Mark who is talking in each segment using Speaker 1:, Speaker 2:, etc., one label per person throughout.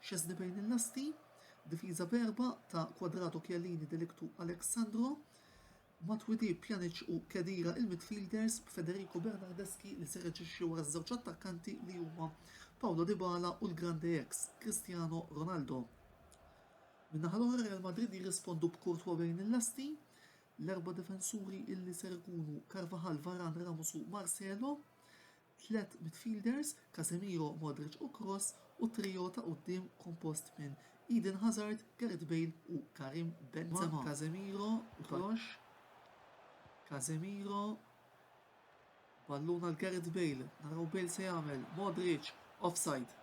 Speaker 1: Szczesny bejn il-lasti, difiża b'erbgħa ta' Cuadrado Chiellini Delictu Alex Sandro, Matuidi Pjanic u Khedira il-midfielders b'Federico Bernardeschi li ser jaġixxi wara ż-żewġ attakkanti li huma Paulo Dybala u l-grande ex, Cristiano Ronaldo. Min-naħa l-oħra Real Madrid jirrispondu b'Courtois bejn il-lasti, l-erba' difensuri illi ser ikunu Carvajal, Varane, Ramos u Marcelo, tliet midfielders, Casemiro, Modric u Kroos, u trio ta' quddiem kompost minn Eden Hazard, Gareth Bale u Karim Benzema. Casemiro, Kroos, Casemiro, ballun għal Gareth Bale, naraw Bale se jagħmel, Modric, offside.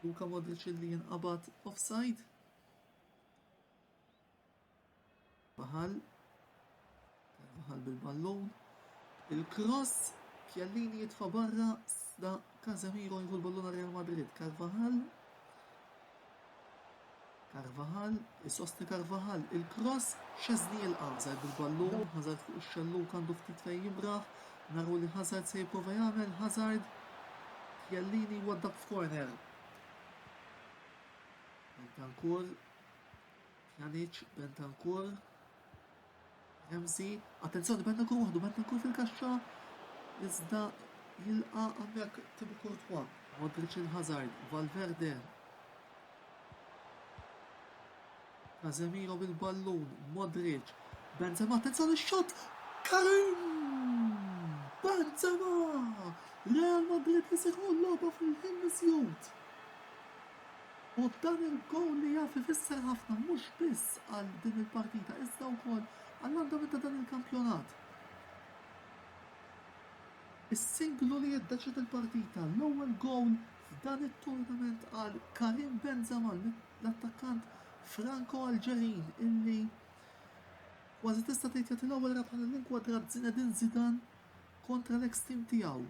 Speaker 1: Luka Modric li jinqabad offside. Baħal, Baħal bil-ballun, il-cross, Chiellini jitfa' barra, da Casemiro jieħu l-ballun Real Madrid, Carvajal, Carvajal, isostni Carvajal, il-cross, xezni il-qazar bil-ballun, Hazard fuq ix-xellu kandu ftit fejn jimraħ, naru li Hazard se jipprova jagħmel, Hazard, Chiellini waddab f'korner. Bentancur, Pjanic, Bentancur, Ramsey, attenzjoni Bentancur waħdu Bentancur fil-kaxxa, iżda jilqa għammek Tibu Kurtwa, Modric il-Hazard, Valverde, Casemiro bil-ballun, Modric, Benzema, attenzjoni xot, Karim! Benzema! Real Madrid li seħu l-loba fil-ħin misjut. Huwa b'dan il-gowl li jaf ifisser ħafna mhux biss għal din il-partita iżda wkoll għall-andament ta' dan il-kampjonat. Is-singlu li jiddeċied il-partita, l-ewwel gowl f'dan it-tournament għal Karim Benzema, l-attakkant Franko-Alġerin illi kważi tista' tgħid jagħti l-ewwel rebħa lill-inkwadrat Zinedine Zidane kontra l-eks team tiegħu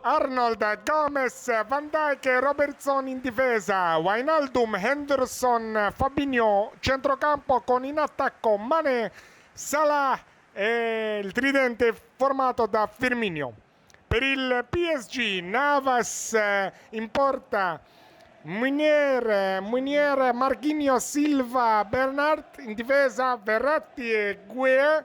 Speaker 2: Arnold, Gomes, Van Dijk, Robertson in difesa, Wijnaldum, Henderson, Fabinho, centrocampo con in attacco Mané, Salah e il tridente formato da Firmino. Per il PSG Navas in porta Munier, Munier, Marquinhos, Silva, Bernard in difesa Verratti e Gueye,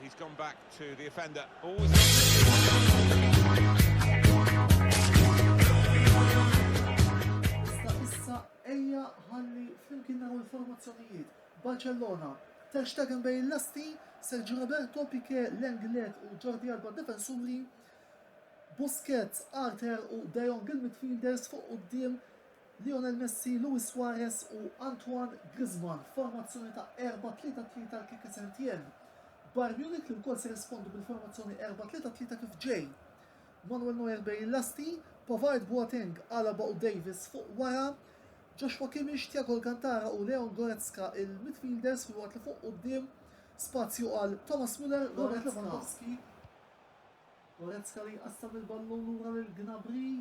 Speaker 3: He's gone back to the offender.
Speaker 1: Issa issa ejja ħalli flimkien naraw il-formazzjonijiet. Barcellona Ter Stegen bejn l-asti, Sergio Roberto, Piquet, Lenglet u Jordi Alba defensuri, Busquets, Arthur u De Jong il-midfielders fuq quddiem Lionel Messi, Luis Suarez u Antoine Griezmann f'formazzjoni ta' 4-3-3 tal-Quique Setien. Bayern Munich li wkoll se jirrispondi bil-formazzjoni 4-3-3 kif ġej. Manuel Neuer bejn il-lasti, Pavard, Boateng, Alaba u Davies fuq wara, Joshua Kimmich, Thiago Alcantara u Leon Goretzka il-midfielders filwaqt li fuq quddiem spazju għal Thomas Muller, Robert Lewandowski, Goretzka li jqassam il-ballun lura lil Gnabry.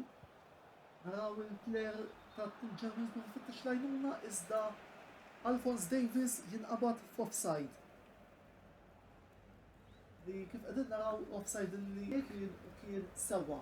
Speaker 1: Naraw il-player tal-Germans kif ifittex l-għajnuna iżda Alphonse Davies jinqabad f'offside. Li kif qegħdin naraw offside li kien sewwa.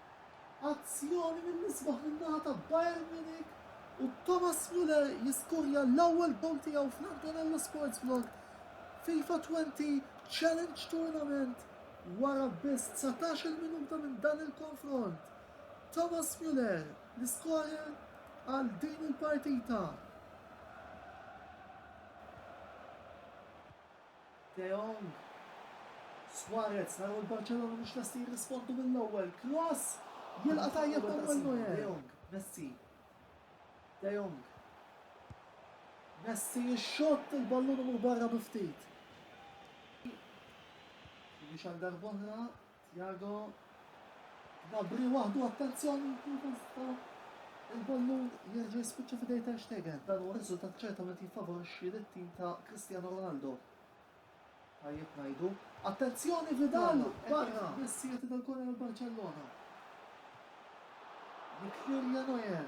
Speaker 1: Azzjoni mill-isbaħ min-naħa ta' Bayern Munich u Thomas Muller jiskorja l-ewwel gowl tiegħu fl-Antonello Sports Vlog FIFA 20 Challenge Tournament wara biss 19-il minuta minn dan il-konfront. Thomas Muller l-iskorer għal din il-partita. De Jong. Suarez, naraw il-Barċellona mhux lesti jirrispondu mill-ewwel. Kroos! Jilqa' tajjeb Manuel Neuer. De Jong, Messi. De Jong. Messi jixxott il-ballun imur barra bi ftit. Finish għal darb'oħra Thiago, Gnabry waħdu attenzjoni fil-posta, il-ballun jerġa' jispiċċa f'idej Ter Stegen, dan huwa riżultat ċertament jiffavorixxi lit-tim ta' Cristiano Ronaldo. Tajjeb ngħidu, attenzjoni Vidal barra! Biss jagħti dal-korner għal Barċellona. Jikkirja Neuer.